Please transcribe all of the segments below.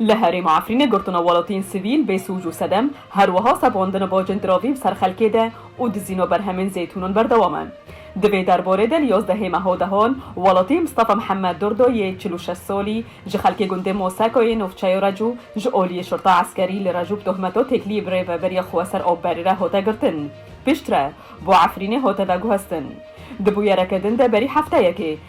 Li herêma Efrînê girtina welatiyên sivîl bê sûc û sedem, her wiha sevandina bajên diravî bi ser xelkê de û dizîna berhemên zeytûnan berdewam e. Di vê derbarê de li yazdehê meha dehan, welatiyê Mistafa Mihemed Durdo yê çil û şeş salî ji xelkê gundê Moseka yê navçeya Recû ji aliyê şurta eskerî li Recû bi tohmeta têkiliyê bi rêveberiya xwe ser av berî re hate girtin. Piştre bo Efrînê hate veguhestin. Di bûyereke din de berî hefteyekê,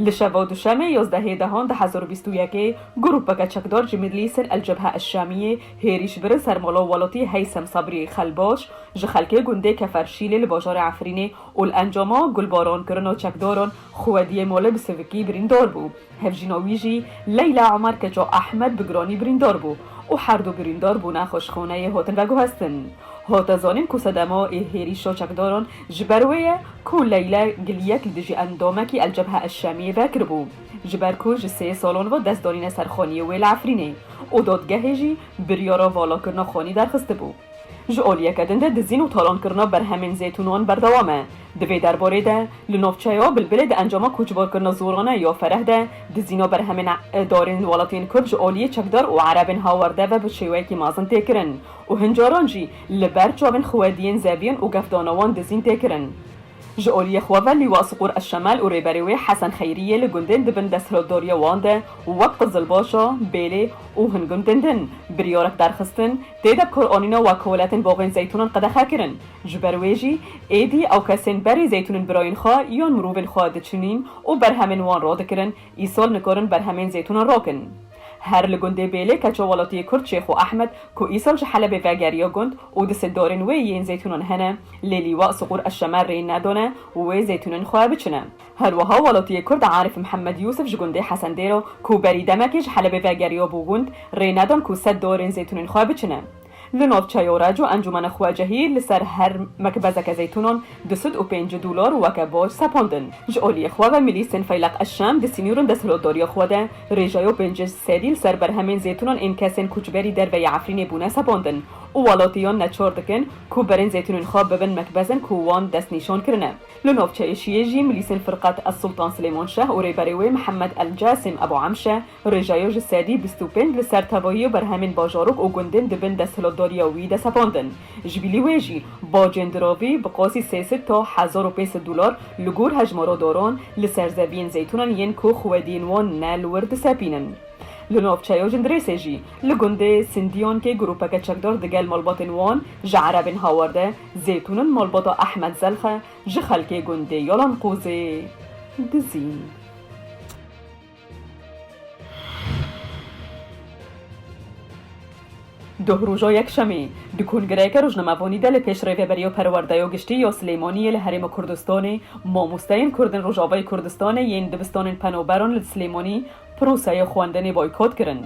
Li şeva Duşemê yozdehê dehan du hezar û bîst û yekê grûpeke çekdar ji Midlîsên El Cebhe El Şamiyê hêrîş birin ser mala welatî Heysem Sabriyê Xelbaş ji xelkê gundê Kefer Şîlê li bajarê Efrînê û li encama gulbarankirina çekdaran xwediyê malê bi sivikî birîndar bû. Hevjîna wî jî Leyla Omer Keça Ehmed bi giranî birîndar bû û herdu birîndar bûne xweşxaneyê hatin veguhestin. Ho te zanîn ku sedema ê hêrîşa çekdaran ji ber wê ye ku Leyla Giliyek li dijî endamekî El Cebha El Şamiyê ve kiribû ji ber ku ji sê salan ve dest danîne ser xaniyê wê li Efrînê û dadgehê jî biryara valakirina xanî derxistibû. Ji aliyeke din de dizîn û talankirina berhemên zêtûnan berdewam e. Di vê derbarê de li navçeya Bilbilê di encama koçbarkirina zorane ya Fereh de dizîna berhemên darên welatiyên Kurd ji aliyê çekdar û erebên hawerde ve bi şêweyekî mezin tê kirin Û hin caran jî li ber çavên xwediyên zeviyên û gefdana wan dizîn tê kirin. Ji aliyê xwe ve Lîwa Siqûr Eşemel û rêberê wê Hesen Xeyriyê li gundên di bin desthilotdariya wan de wek Qizilbaşa, Bêlê û hin gundên din biryarek derxistin tê de bikaranîna wekoletên baxên zeytûnan qedexe kirin. Ji ber wê jî êdî ew kesên berê zeytûnên birayên xwe yan mirovên xwe diçinîn û berhemên wan radikirin, îsal nikarin berhemên zeytûnan rakin. Her li gundê Bêlê keça welatiyê Kurd Şêxo Ehmed ku îsal ji Helebê vegeriya gund û di sindarên wê yên zeytûnan hene lê Lîwa Siqûr Eşşemer rê nedane wê zeytûnên xwe biçine. Her wiha welatiyê Kurd Arif Mihemed Yûsif ji gundê Hesendêra ku berî demekê ji Helebê vegeriya bû gund rê nedan ku sedarên zeytûnên xwe biçine. Li navçeyo Reco encûmena xwecehî li ser her mekbezeke zeytûnan du sed û pêncî dolar weke bac sepandin. Ji aliyê xwe ve milîsên Feyleq Eşşem di sînûrên desthilotdariya xwe de rêjeya pênc sedî li ser berhemên zeytûnan ên kesên koçberî derve yê Efrînê bûne sepandin û welatiyan neçar dikin ku berên zeytûnên xwe bibin mekbezên ku wan destnîşan kirine. Li navçeyê Şiyê jî milîsên Firqet Ez Sultan Silêman Şeh û rêberê wê Mihemed El Casîm Ebû Emşe Rêjeyo ji sedî bîst û pênc li ser tevayî berhemên bajarok û gundên di bin desthilatdariya wî de sepandin. Ji bilî wê jî bacên diravî bi qasî sê sed ta hezar û pênc sed dolar li gor hejmara daran li ser zeviyên zeytûnan yên ku xwediyên wan ne li wir disepînin. Li navçeya Jindirêsê jî li gundê Sindiyankê grûpeke çekdar digel malbatên wan ji erebên hawar de zeytûnin malbata Ehmed Zelxe ji xelkê gundê Yalanqûzê dizîn. Duh roja Yekşemê, di kongireyeke rojnamevonî de li pêş Rêveberîya Perwerdeya Giştî ya Silêmaniyê li Herêma Kurdistanê, mamosteyên Kurdên Rojavayê Kurdistanê yên dibistanên penaberan li Silêmanî proseya xwendinê boykot kirin.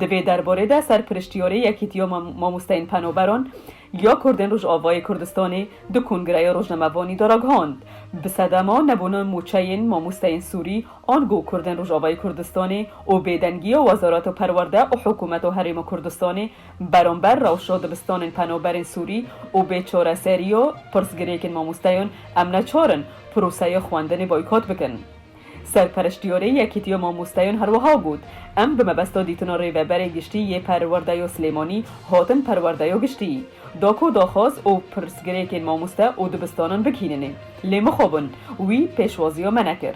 Di vê derbarê de serpiriştiyarê Yekîtiya Mamosteyên Penaberan ya Kurdên Rojavayê Kurdistanê di Kongreya Rojnamevanî de ragihand, Bi sedema nebûna mûçeyên mamosteyên Sûrî an ku Kurdên Rojavayê Kurdistanê û bêdengiya Wezareta Perwerde û Hikûmeta Herêma Kurdistanê beramber rewşa dibistanên penaberên Sûrî û bê çareseriya pirsgirêkên mamosteyan em neçar in proseya xwendinê boykot bikin. Serpereştîyorê Yekîtîyo Mamostayon herwiha got, Em bi mebesta dîtina Rêveberê Giştî yê Perwerdeyo Silêmanî hatin Perwerdeyo Giştî. Dako daxwaz û pirsgirêkên mamoste û dibistanan bigihîninê. Lê mixabin, wî pêşwaziya me nekir.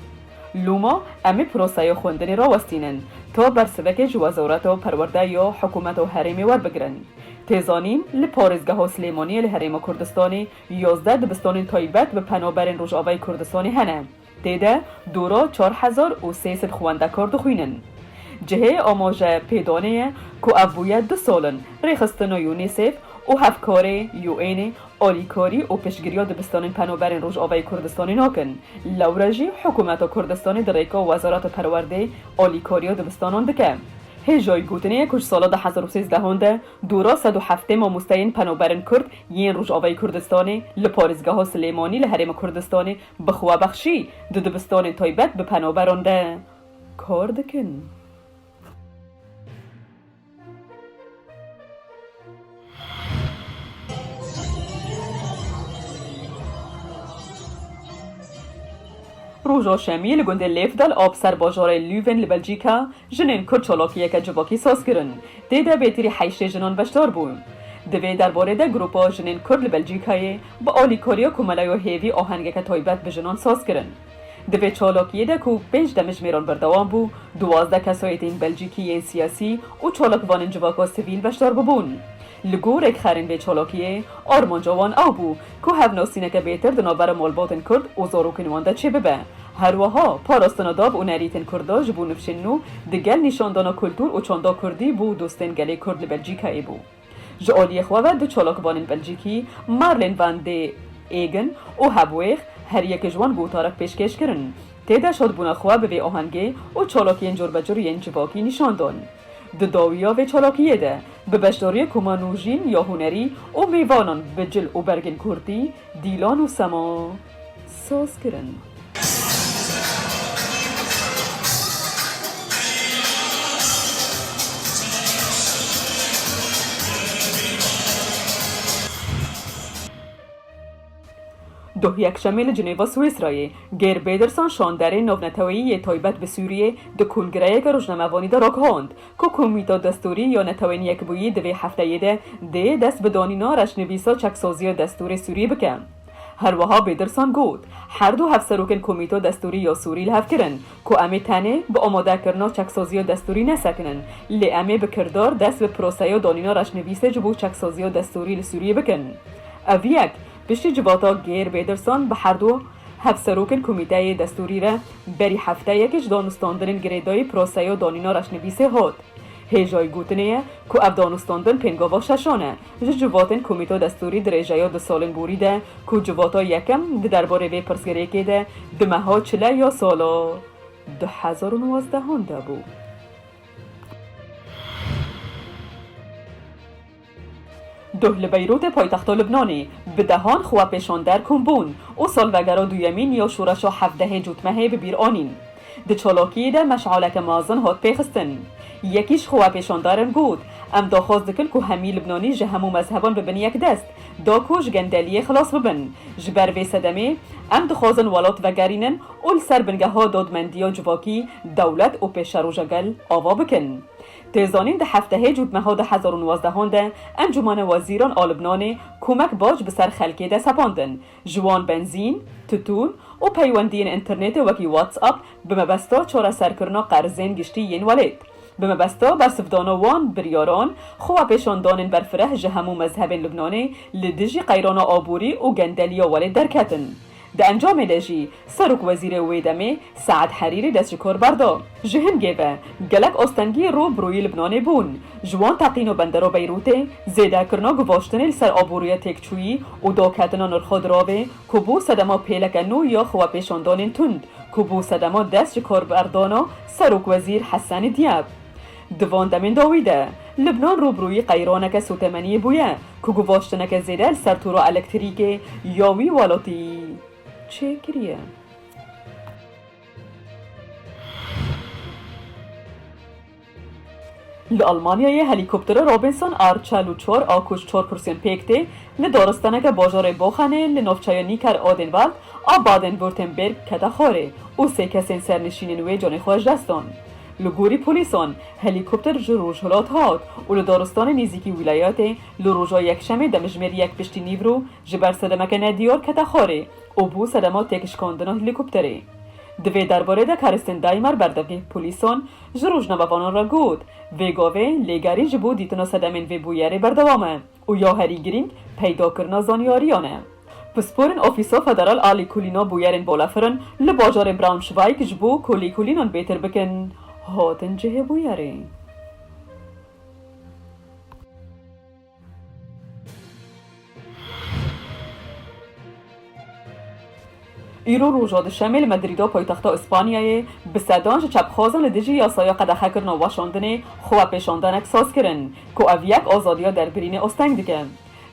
Loma em ê proseya xwendinê rawestînin, ta bersivekê ji Wezareta Perwerde ya Hikûmeta Herêmê werbigirin. Tê zanîn, li Parêzgeha Silêmaniyê li Herêma Kurdistanê yazdeh dibistanên taybet bi penaberên Rojavayê Kurdistanê hene. Tê de dûro çar hezar û sê sed xwendekar dixwînin. Cihê amaje pê danê ye ku ev bûye du sal in rêxistina UNICEF û hevkarê UN'ê alîkarî û piştgiriya dibistanên penaberên Rojavayê Kurdistanê nakin, lewre jî hikûmeta Kurdistanê di rêka Wezareta Perwerdê alîkariya dibistanan dike. Hêjayî gotinê ye ku ji sala du hezar û sêzdeh an de dûro sed û heftê mamosteyên penaberên Kurd yên Rojavayê Kurdistanê li parêzgeha Silêmanî li Herêma Kurdistanê Bixwe bexşî du dibistonên toybet bi penoberon de kor dikin. Roja Şemiyê li gundê Lêfdal a bi ser bajarê Lüven li Belcîka jinên Kurd çalakiyeke civakî saz kirin. Tê de bêtirî heyştê jinan beşdar bûn. Di vê derbarê de grûpa jinên Kurd li Belcîkayê Bi Olîkorîyo ku mela yo hêvî ohengeke toybet bi jinan saz kirin. Di vê çalakîyê de ku pênc demijmêran berdewam bû, duwazdeh kesoyetên Belcîkî yên siyasî û çalakvanên civaka sivîl beşdar bûbûn. Li gor rêkxerên vê çalakîyê, armanca wan ew bû ku hevnasîneke bêtir di navbera malbatên Kurd û zarokên wan de çê bibe. Herweha, parastina dav û nerîtên Kurda ji bo nifşên nû di gel nîşandana kultûr û çanda Kurdî bo dostên gelê Kurd li Belcîkayê bû. Ji aliyê xwe ve du çalakvanên Belcîkî, Marlène Van de Aegen û Hevweeg, her yek ji wan gotarek pêşkêş kirin. Tê de şadbûna xwe bi vê ahengê û çalakiyên corbecur yên civakî nîşan dan. Di dawiya vê çalakiyê de, bi beşdariyê koma nûjîn ya hunerî û mêvanan bi cil û bergên kurdî, dîlan û sema, Soz kirin. Duh yekşemê li Cinêva Swêsrayê, Geir Pederson şanderê navneteweyî yê taybet bi Sûriyê di kongireyeke rojnamevanî de ragihand ku Komîta Destûrî ya Netewên Yekbûyî di vê hefteyê de dê dest bi danîna reşnivîsa çeksaziya destûrê Sûriyê bike. Herwiha Bêdirsan got, Her du hevserokên Komîto Destûrî ya Sûrî li hev kirin ku em ê tenê bi amadekirina çeksaziya destûrî nesekinin, lê em ê bi kirdar dest bi proseya danîna reşnivîsê ji bo çeksaziya destûrî li Sûriyê bikin. Ev yek piştî civata Geir Bêdirsan bi her du hevserokên Komîteyê Destûrî re berî hefteyekê ji danûstandinên girêdayî proseya danîna reşnivîsê hat. Hêjayî gotinê ye ku ev danûstandin pêngava şeşan e Ji civatên Komîto Destûrî dirêjeya di salên borî de ku civata yekem di derbarê vê pirsgirêkê de di meha çile ya sala du hezar û nozdehan de bû. Duh li Beyrûtê paytexta Libnanê bi dehan xwepêşander kom bûn û salvegera duyemîn ya şoreşa hevdehê cotmehê bi bîr anîn. Di çolokiyê de meşaleke mazin hat pêxistin. Yekî ji xwepêşandarin got, Em daxwaz dikin ku hemî Libnanî ji hemû mezheban bibin yekdest, da ku ji gendeliyê xilas bibin. Ji ber vê sedemê, em dixwazin welat vegerînin û li ser bingeha dadmendiya civakî dewlet û pêşeroja gel ava bikin. Tê zanîn di heftehê cûtmeha du hezar û nwazdeh an de Encûmena Wezîran a Libnanê komek baş bi ser xelkê de sepandin, Ji wan benzîn, titûn û peywendiyên înternêtê wekî WhatsApp bi mebesta çareserkirina qerzên giştî yên welêt. Bi mebesta bersivdana wan biryaran, xwewepêşandanên berfireh ji hemû mezhebên Lubnanê li dijî qeyrana aborî û gendeliya welêt derketin. Di encamê de jî Serokwezîrê wê demê Sead Herîrî dest ji kor berda. Ji hingê ve gelek astengî rû bi rûyî Libnanê bûn. Ji wan teqîna bendera Beyrûtê, zêdekirina guvaştinê li ser aboriya têkçûyî û daketina nirxa diravê ku bû sedema pêleke nû ya xwepêşandanên tund ku bû sedema dest ji korberdana Serokwezîr Hessenî Dîab. Di van demên dawî de Libnan rû bi rûyî qeyraneke sotemeniyê bûye ku guvaştineke zêde li ser tûra elektirîkê ya wî welatî, çêkiriye. Li Almanyayê helîkoptera Robinson a çel û çar a ku ji çar kursiyên pêk tê, li daristaneke bajarê Boxenê li navçeya Nicker-Odenwald a Baden-Württemberg kete xwarê û sê kesên sernişînên wê canê xwe ji dest dan. Li gorî polîsan, helîkopter ji rojhilat hat û li daristanê nêzîkî wîlayetê li roja Yekşemê demjimêr yek piştî nîvro Ji ber sedemeke nedîyor kete xorî û bû sedema têkişkandina helîkopterê. Di vê derbarê de Karistên Daymer berdevî polîsan ji rojnamevanan re got, Vê gavê lêgerî ji bo dîtina sedemên vê bûyerê berdewam e û ya herî girîng peydakirina zanyariyan e. Pisporên Ofîsa Federal a Lîkolîna Bûyerên Balafirin li bajarê Braunschweig ji bo ku lîkolînan bêtir bikin hatin cihê bûyerê. Îro roja Duşemê li Medrîda paytexta Îspanyayê bi sedan ji çepxwazan li dijî yasaya qedexekirina weşandinê xwepêşandanek saz kirin ku ev yek azadiya derbirînê asteng dike.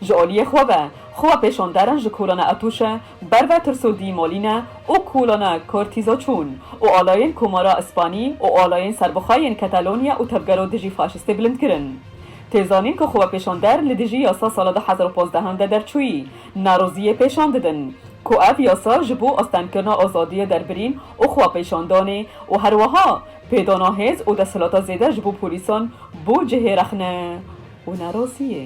Ji aliyê xwe ve xwepêşanderan ji kolana Etûşe ber ve tirso dîmalîne û kolana Kortîza çûn û alayên Komara Îspanî û alayên serbixwe yên Katalonya û tevgera dijî faşîstê bilind kirin. Tê zanîn ku xwepêşander li dijî yasa sala du hezar û pazdeh de derçûyî, neroziyê pêşan didin ku ev yasa ji bo astengkirina azadiyê derbirîn û xwepêşandanê û herweha pêdana hêz û desthilata zêde ji bo polîsan bû cihê rexne û neroziyê.